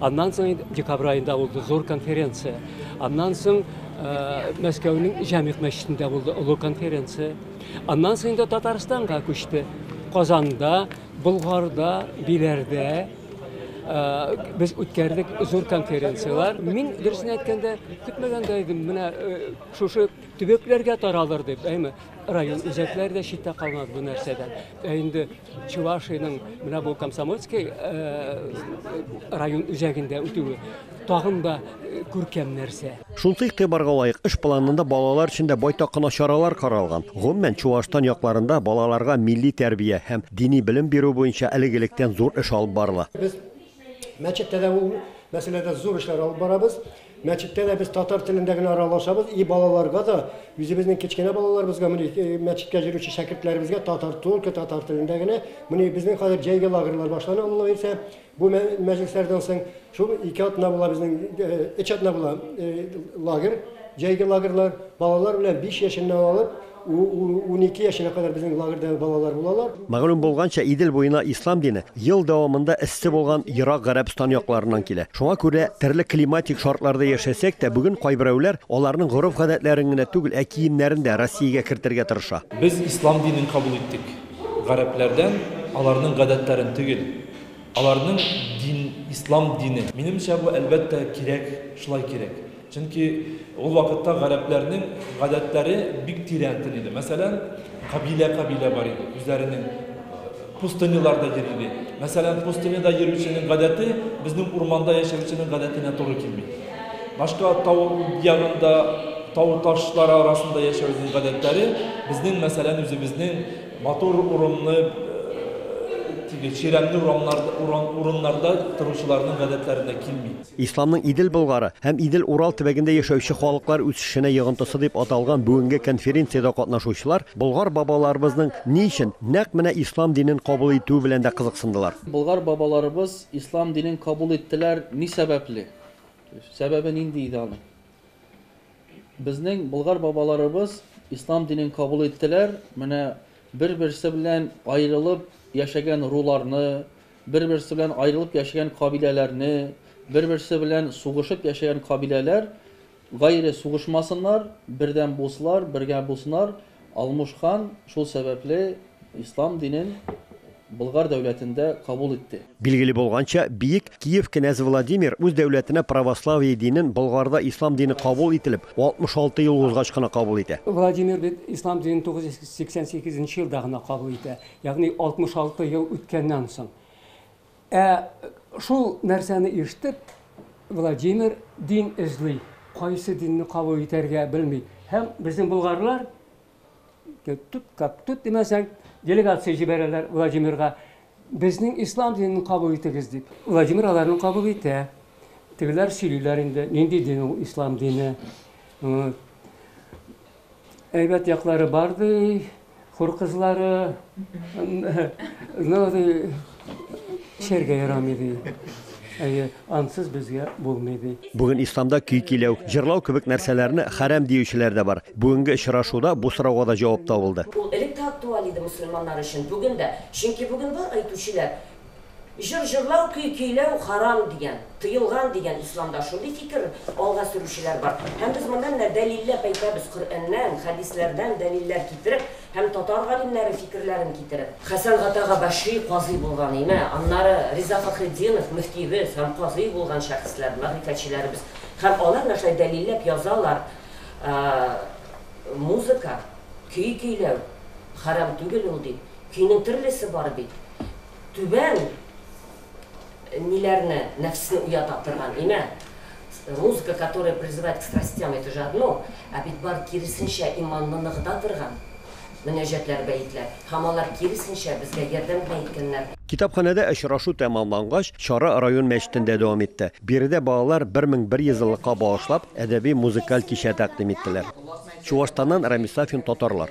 Аннан соң инде декабрь аенда булды зур конференция. Аннан соң Мәскәүнең Җәмигъ мәчетендә булды олы конференция. Аннан соң инде Татарстанга күчте. Казанда, Болгарда, Биләрдә без үткәрдек зур конференцияләр. Мин дөресен әйткәндә, көтмәгәндә идем, менә шушы төбәкләргә таралыр дип, әйме, район үзәкләре дә читтә калмады бу нәрсәдән. Ә инде Чувашиянең менә бу Комсомольский район үзәгендә үтүе тагын да күркәм нәрсә. Шундый игътибарга лаек эш планында балалар өчен дә байтак кына чаралар каралган. Гомумән, Чуашстан якларында балаларга милли тәрбия һәм дини белем бирү буенча әлеге электән зур эш алып барыла. Без мәчеттә дә ул мәсьәләдә зур эшләр алып барабыз. Мәчеттә дә без татар телендә генә аралашабыз, и балаларга да, үзебезнең кечкенә балаларыбызга, менә мәчеткә йөрүче шәкертләребезгә татар, только татар телендә генә. Менә безнең хәзер җәйге лагерьлар башлана, Алла бирсә, бу мәҗлесләрдән соң. Шул ике атна була безнең, өч атна була лагерь, җәйге лагерьлар. Балалар белән биш яшеннән алып, Унике яшенә кадәр безнең лагерьда балалар булалар. Мәгълүм булганча, Идел буена ислам дине ел дәвамында эссе булган Ерак Гарәбстан якларыннан килә. Шуңа күрә төрле климатик шартларда яшәсәк тә, бүген кайберәүләр аларның гореф-гадәтләрен генә түгел, ә киемнәрен дә Россиягә кертергә тырыша. Без ислам динен кабул иттек. Гарәпләрдән аларның гадәтләрен түгел. Аларның дин, ислам дине. Минемчә, бу, әлбәттә, кирәк, шулай кирәк. Чөнки ул вакытта гарәпләрнең гадәтләре бик тирәнтен иде. Мәсәлән, кабилә-кабилә бар иде, үзләренең пустыняларда йөри иде. Мәсәлән, пустыняда йөрүченең гадәте безнең урманда яшәүченең гадәтенә туры килми. Башка тау ягында, тау ташлар арасында яшәүнең гадәтләре безнең, мәсәлән, үзебезнең матур урынны теге чирәмле урыннарда торучыларның гадәтләренә килми. Исламның Идел Болгары һәм Идел Урал төбәгендә яшәүче халыклар үсешенә йогынтысы дип аталган бүгенге конференциядә катнашучылар Болгар бабаларыбызның ни өчен нәкъ менә Ислам динен кабул итүе белән дә кызыксындылар. Болгар бабаларыбыз Ислам динен кабул иттеләр ни сәбәпле? Сәбәбе нинди иде аның? Безнең Болгар бабаларыбыз Ислам динен кабул иттеләр, менә бер-берсе белән аерылып яшәгән руларны, Бер-берсе белән аерылып яшәгән кабиләләрне, бер-берсе белән сугышып яшәгән кабиләләр гайре сугышмасыннар, бердәм булсылар, бергә булсынар, Алмуш хан шул сәбәпле ислам динен Болгар дәүләтендә кабул итте. Билгеле булганча, Биек Киев кенәзе Владимир үз дәүләтенә православие динен Болгарда ислам дине кабул ителеп 66 ел узгач кына кабул итә. Владимир бит ислам динен 988 нче елда гына кабул итә. Ягъни 66 ел үткәннән соң. Ә шул нәрсәне ишетеп, Владимир дин эзли, кайсы динне кабул итәргә белми. Һәм безнең болгарлар тут как тут димәсәң, делегация җибәрәләр Владимирга. Безнең ислам динен кабул итегез дип. Владимир аларны кабул итә. Тегеләр сөйлиләр инде, нинди дин ул ислам дине. Әйбәт яклары бар ди, хур кызлары, но ди, эчәргә ярамый ди. Әйе, ансыз безгә булмый ди. Бүген исламда көй көйләү, җырлау кебек нәрсәләрне хәрам диючеләр дә бар. Бүгенге очрашуда бу сорауга да җавап табылды. Ул элек тә актуаль иде мөселманнар өчен, бүген дә. Чөнки бүген бар әйтүчеләр, Җыр җырлау, көй көйләү харам дигән, тыелган дигән исламда шундый фикер алга сөрүчеләр бар. Һәм без моны менә дәлилләп әйтәбез Коръәннән, хәдисләрдән дәлилләр китереп һәм татар галимнәре фикерләрен китереп. Хәсән Гатага Башри казый булган име, аннары Риза Фәхретдинов мөфтиебез һәм казый булган шәхесләр, мәгърифәтчеләребез. Һәм алар менә шулай дәлилләп язалар музыка, көй көйләү харам түгел ул дип. Көйнең төрлесе бар бит. Түбән ниләрне, нәфсне уята торган имә. Музыка, которая призывает к страстям, это же одно, ә бит бар киресенчә иманны ныгыта торган мөнәҗәтләр, бәетләр. Һәм алар киресенчә безгә ярдәм генә иткәннәр. Китапханәдә очрашу тәмамлангач, чара район мәчетендә дәвам итте. Биредә балалар 1100 еллыкка багышлап әдәби-музыкаль кичә тәкъдим иттеләр. Чуашстаннан Рамис Сафин, Татарлар.